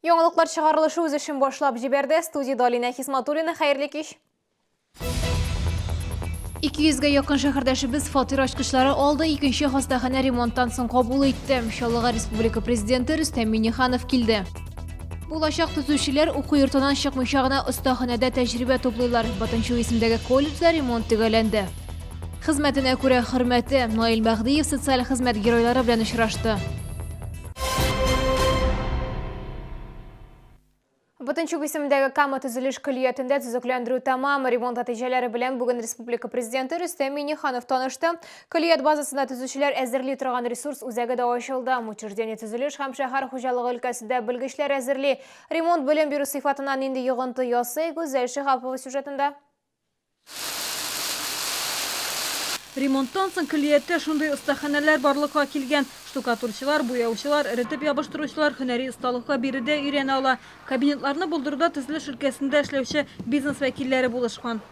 Яңалыклар чыгарылышы үз эшен башлап җибәрде. Студиядә Алинә Хисматуллина. Хәерле кич. 200-гә якын шәһәрдәшебез фатир ачкычлары алды, икенче хастаханә ремонттан соң кабул итте. Чаллыга республика президенты Рөстәм Миннеханов килде. Булачак төзүчеләр уку йортынан чыкмыйча гына остаханәдә тәҗрибә туплыйлар. Батынчу исемдәге колледжда ремонт төгәлләнде. Хезмәтенә күрә хөрмәте Наил Мәһдиев социаль хезмәт геройлары белән очрашты. Бутынчук исемендәге Кама төзелеш көллиятендә төзекләндерү тәмам. Ремонт нәтиҗәләре белән бүген республика президенты Рөстәм Миниханов танышты. Көллият базасында төзүчеләр әзерли торган ресурс үзәге дә ачылды. Учреждение төзелеш һәм шәһәр хуҗалыгы өлкәсендә белгечләр әзерли. Ремонт белем бирү сыйфатына нинди йогынты ясый, Гүзәл Шиһапова сюжетында. Ремонттан соң көллияттә шундый остаханәләр барлыкка килгән. Штукатурчылар, буяучылар, эретеп ябыштыручылар һөнәри осталыкка биредә өйрәнә ала. Кабинетларны булдыруда төзелеш өлкәсендә эшләүче бизнес вәкилләре булышкан.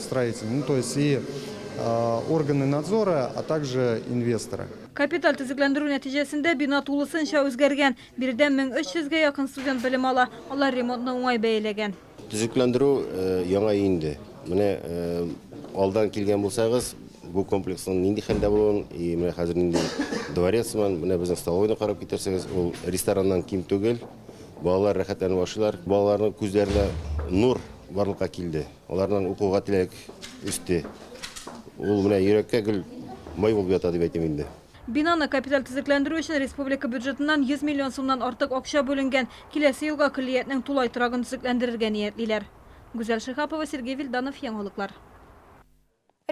строитель, ну то есть и органы надзора, а также инвесторы. Капиталь төзекләндерү нәтиҗәсендә бина тулысынча үзгәргән. Биредә 1300 гә якын студент белем ала. Алар ремонтны уңай бәяләгән. Төзекләндерү э, яңа инде. Менә э, алдан килгән булсагыз, бу комплексның нинди хәлдә булуын, и менә хәзер нинди дворец сыман, менә безнең столовойны карап китерсәгез, ул рестораннан ким түгел. Балалар рәхәтләнеп ашыйлар. Балаларның күзләренә нур барлыкка килде. Аларның укуга теләк өсте. Ул менә йөрәккә гел май булып ята дип әйтим инде. Бинаны капиталь төзекләндерү өчен республика бюджетыннан 100 миллион сумнан артык акча бүленгән. Киләсе елга көллиятнең тулай торагын төзекләндерергә ниятлиләр. Гүзәл Шиһапова, Сергей Вильданов, Яңалыклар.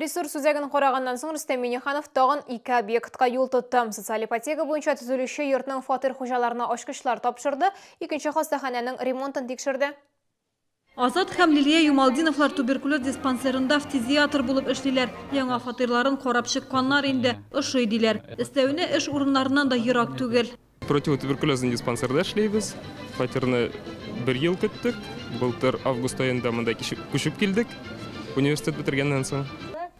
Ресурс үзәген караганнан соң Рөстәм Миңнеханов тагын ике объектка юл тотты. Социаль ипотека буенча төзелүче йортның фатир хуҗаларына ачкычлар тапшырды, икенче хастаханәнең ремонтын тикшерде. Азат һәм Лилия Юмалдиновлар туберкулез диспансерында фтизиатр булып эшлиләр. Яңа фатирларын карап чыкканнар инде, ошый, диләр. Өстәвенә, эш урыннарыннан да ерак түгел. Противотуберкулезный диспансерда эшлибез. Фатирны бер ел көттек. Былтыр август аенда монда күчеп килдек, университет бетергәннән соң.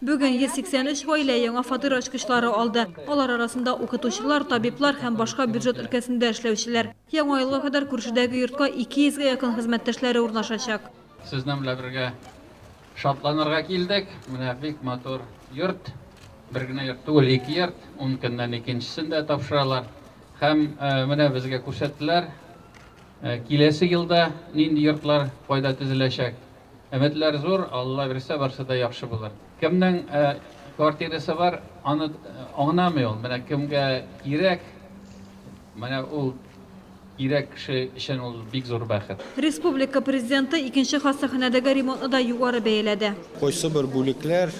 Бүген 183 гаилә яңа фатир ачкычлары алды. Алар арасында укытучылар, табиблар һәм башка бюджет өлкәсендә эшләүчеләр. Яңа елга кадәр күршедәге йортка 200 гә якын хезмәттәшләре урнашачак. Сезнең белән бергә шатланырга килдек. Менә бик матур йорт. Бер генә йорт түгел, ике йорт. Ун көннән икенчесен дә тапшыралар. Һәм менә безгә күрсәттеләр. Киләсе елда нинди йортлар кайда төзеләчәк. Өметләр зур, Алла бирсә, барсы да яхшы булыр. Кемнең квартирасы бар, аны аңнамый ул. Менә кемгә кирәк, менә ул кирәк кеше өчен ул бик зур бәхет. Республика Президенты икенче хастаханәдәге ремонтны да югары бәяләде. Кайсы бер бүлекләр,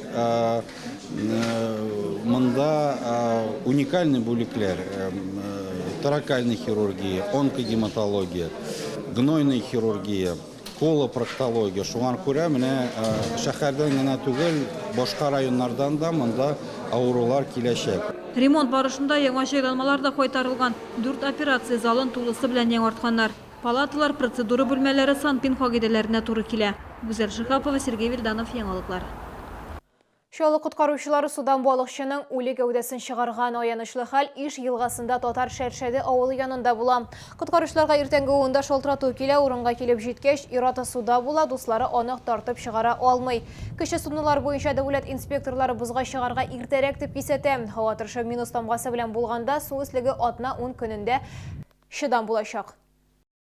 монда уникальный бүлекләр, торакальный хирургия, онкогематология, гнойный хирургия, Кола проктология. Шуңар күрә менә шәхәрдән генә түгел, башка районнардан да монда авырулар киләчәк. Ремонт барышында яңа җайланмалар да кайтарылган, дүрт операция залын тулысы белән яңартканнар. Палаталар, процедура бүлмәләре санпин кагыйдәләренә туры килә. Гүзәл Шиһапова, Сергей Вильданов, Яңалыклар. Чаллы коткаручылары судан балыкчының үле гәүдәсен чыгарган. Аянычлы хәл Иж елгасында Татар Шәршәде авылы янында була. Коткаручыларга иртәнге унда шалтырату килә, урынга килеп җиткәч, ир-аты суда була, дуслары аны тартып чыгара алмый. Кече суднолар буенча дәүләт инспекторлары бозга чыгарга иртәрәк дип кисәтә. Һава торышы минус тамгасы белән булганда, су өслеге атна-ун көнендә чыдам булачак.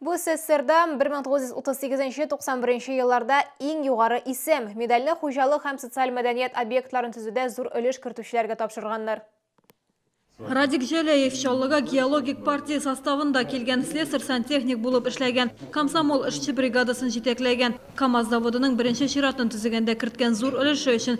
Бу СССРда 1938-91 елларда иң югары исем. Медальне хуҗалык һәм социаль мәдәният объектларын төзүдә зур өлеш кертүчеләргә тапшырганнар. Радик Җәләев Чаллыга геологик партия составында килгән, слесарь-сантехник булып эшләгән, комсомол эшче бригадасын җитәкләгән, КАМАЗ заводының беренче чиратын төзегәндә керткән зур өлеше өчен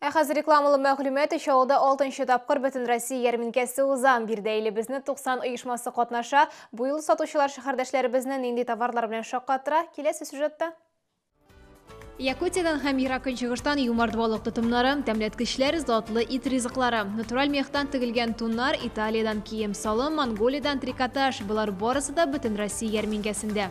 Ә хәзер рекламалы мәгълүмат Чаллыда алтынчы тапкыр Бөтенроссия ярминкәсе уза. Биредә иле безне 90 оешмасы катнаша. Бу юлы сатучылар шәһәрдәшләребезне нинди товарлар белән шаккаттыра, киләсе сюжетта. Якутиядән һәм Ерак Көнчыгыштан юмарт балык тотымнары, тәмләткечләр, затлы ит ризыклары, натураль мехтан тегелгән туннар, Италиядән кием-салым, Монголиядән трикотаж, болар барысы да Бөтенроссия ярминкәсендә.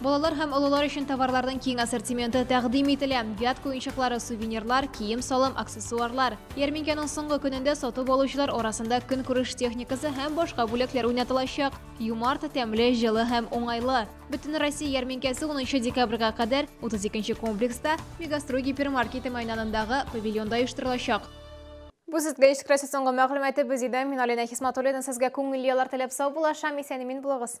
Балалар һәм олылар өчен товарларның киң ассортименты тәкъдим ителә. Вятка уенчыклары, сувенирлар, кием-салым, аксессуарлар. Ярминкәнең соңгы көнендә сатып алучылар арасында көнкүреш техникасы һәм башка бүләкләр уйнатылачак. Юмарт, тәмле, җылы һәм уңайлы. Бөтенроссия ярминкәсе 10 декабрьгә кадәр 32 комплекста Мегастрой гипермаркеты мәйданындагы павильонда оештырылачак. Бу сезгә искрәсе соңгы мәгълүматы без идем. Мин Алина Хисматуллина сезгә күңелле яллар теләп сау булашам, исән-имин булыгыз.